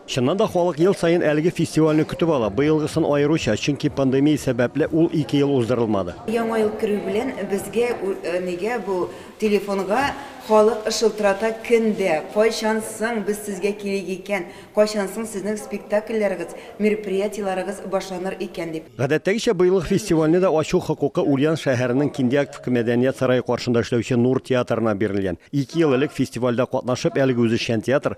Чыннан да, халык ел саен әлеге фестивальне көтеп ала. Быелгысын аеруча, чөнки пандемия сәбәпле, ул ике ел уздырылмады. Яңа ел керү белән безгә нигә бу телефонга халык шылтырата көн дә, кайчан соң без сезгә килик икән, кайчан соң сезнең спектакльләрегез, мероприятиеләрегез башланыр икән дип. Гадәттәгечә, быелгы фестивальне дә ачу хокукы Ульян шәһәренең Киндиактвка мәдәният сарае каршында эшләүче Нур театрына бирелгән. Ике ел элек фестивальдә катнашып, әлеге үзешчән театр,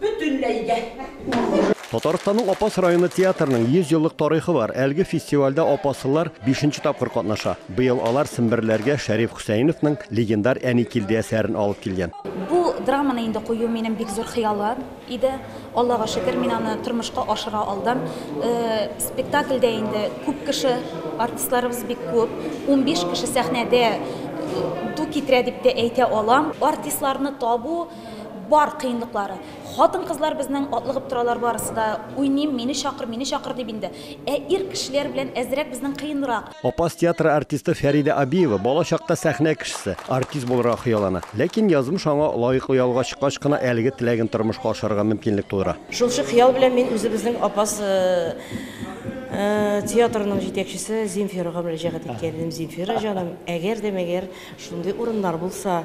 Бөтенләйгә. Татарстанның Апас районы театрының 100 еллык тарихы бар. Әлеге фестивальдә апаслылар бишенче тапкыр катнаша. Быел алар семберләргә Шәриф Хөсәеновның легендар Әни килде әсәрен алып килгән. Бу драманы инде кую минем бик зур хыялым иде. Аллага шөкер, мин аны тормышка ашыра алдым. Спектакльдә инде күп кеше, артистларыбыз бик күп. Унбиш кеше сәхнәдә ду китерә дип тә әйтә алам. Артистларны табу, Бар кыенлыклары. Хатын-кызлар безнең атлыгып торалар барысы да, уйныйм, мине чакыр, мине чакыр дип инде. Ә ир кешеләр белән әзрәк безнең кыенрак. Апас театры артисты Фәридә Абиева бала чакта сәхнә кешесе, артист булырга хыяллана. Ләкин язмыш аңа лаеклы ялга чыккач кына әлеге теләген тормышка ашырырга мөмкинлек тудыра. Шулчы хыял белән мин үзебезнең Апас театрының җитәкчесе Земфирага мөрәҗәгать иткән идем, Земфира җаным, әгәр дә мәгәр шундый урыннар булса,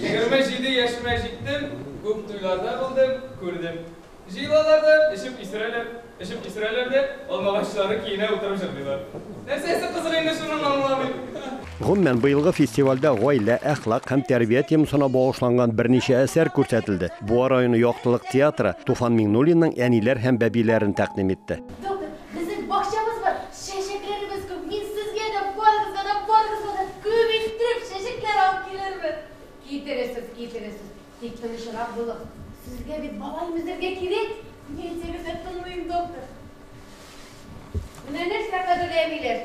Егерме җиде яшемә җиттем, күп туйларда булдым, күрдем. Җыелалар да, эчеп исерәләр, эчеп исерәләр дә, алмагачлары киенә утырып җырлыйлар. Нәрсәсе кызык инде шуның, аңламыйм. Гомумән, быелгы фестивальдә гаилә, әхлак һәм тәрбия темасына багышланган берничә әсәр күрсәтелде. Буа районы Яктылык театры Туфан Миңнуллинның Әниләр һәм бәбиләрен тәкъдим итте. Безнең бакчабыз бар, чәчәкләребез күп. Мин сезгә дә, барыгызга да, барыгызга да күп иттереп чәчәкләр алып килермен. Китерерсез, китерерсез. Тик тынычрак булыгыз. Сезгә бит бала имезергә кирәк. Ни әйтсәгез дә тыңлыйм, доктор. Менә нәрсә кадерле әбиләр.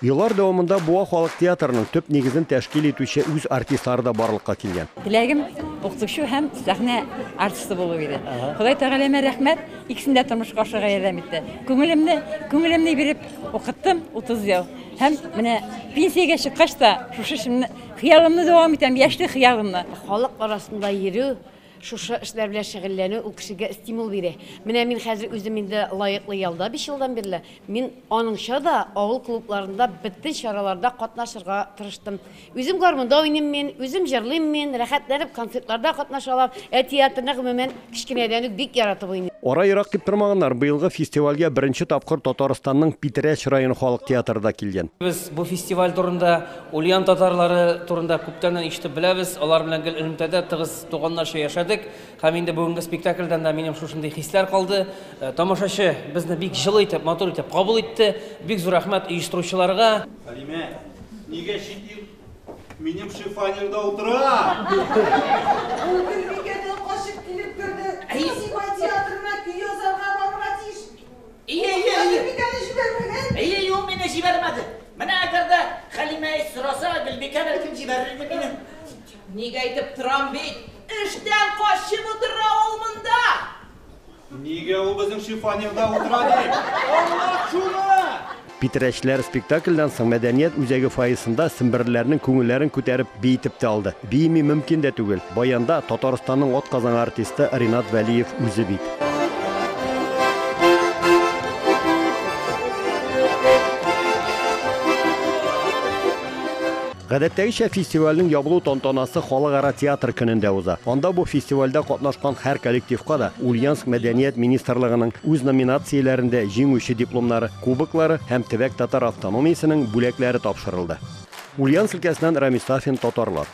Еллар дәвамында Буа халык театрының төп нигезен тәшкил итүче үз артистлары да барлыкка килгән. Теләгем укытучы һәм сәхнә артисты булу иде. Ходай Тәгаләмә рәхмәт, икесен дә тормышка ашырга ярдәм итте. Күңелемне, күңелемне биреп укыттым 30 ел. Һәм менә пенсиягә чыккач та шушы эшемне, хыялымны дәвам итәм, яшьлек хыялымны. Халык арасында йөрү, Шушы эшләр белән шөгыльләнү ул кешегә стимул бирә. Менә мин хәзер үзем инде лаеклы ялда биш елдан бирле. Мин аныңча да авыл клубларында бөтен чараларда катнашырга тырыштым. Үзем гармунда уйныйм мин, үзем җырлыйм мин, рәхәтләнеп концертларда катнаша алам. Ә театрны, гомумән, кечкенәдән үк бик яратып уйныйм. Ара ерак дип тормаганнар, быелгы фестивальгә беренче тапкыр Татарстанның Питрәч районы халык театры да килгән. Без бу фестиваль турында Ульян татарлары турында күптәннән ишетеп беләбез, алар белән гел элемтәдә тыгыз туганнарча яшәдек һәм инде бүгенге спектакльдән да минем шушындый хисләр калды. Э, тамашачы безне бик җылы итеп, матур итеп кабул итте. Бик зур рәхмәт оештыручыларга. Хәлимә, нигә чит ил минем шифонерда утыра? Ул Гөлбикәдән качып килеп керде. Әйе, Әйе, әйе, әйе. Гөлбикәне җибәрмәгән? Әйе, юк, мине җибәрмәде. Менә әгәр дә Хәлимә сораса, Гөлбикә бәлкем җибәрер иде мине. Ник әйтеп торам бит, эштән качып утыра ул монда. Нигә ул безнең шифоньерда утыра ди? Аңлат шуны! Питрәчләр спектакльдән соң мәдәният үзәге фойесында семберлеләрнең күңелләрен күтәреп би итеп тә алды. Биеми мөмкин дә түгел. Баянда Татарстанның атказанган артисты Ринат Вәлиев үзе бит. Гадәттәгечә, фестивальнең ябылу тантанасы Халыкара театр көнендә уза. Анда бу фестивальдә катнашкан һәр коллективка да Ульяновск мәдәният министрлыгының үз номинацияләрендә җиңүче дипломнары, кубоклары һәм Төбәк татар автономиясенең бүләкләре тапшырылды. Ульяновск өлкәсеннән Рамис Сафин, Татарлар.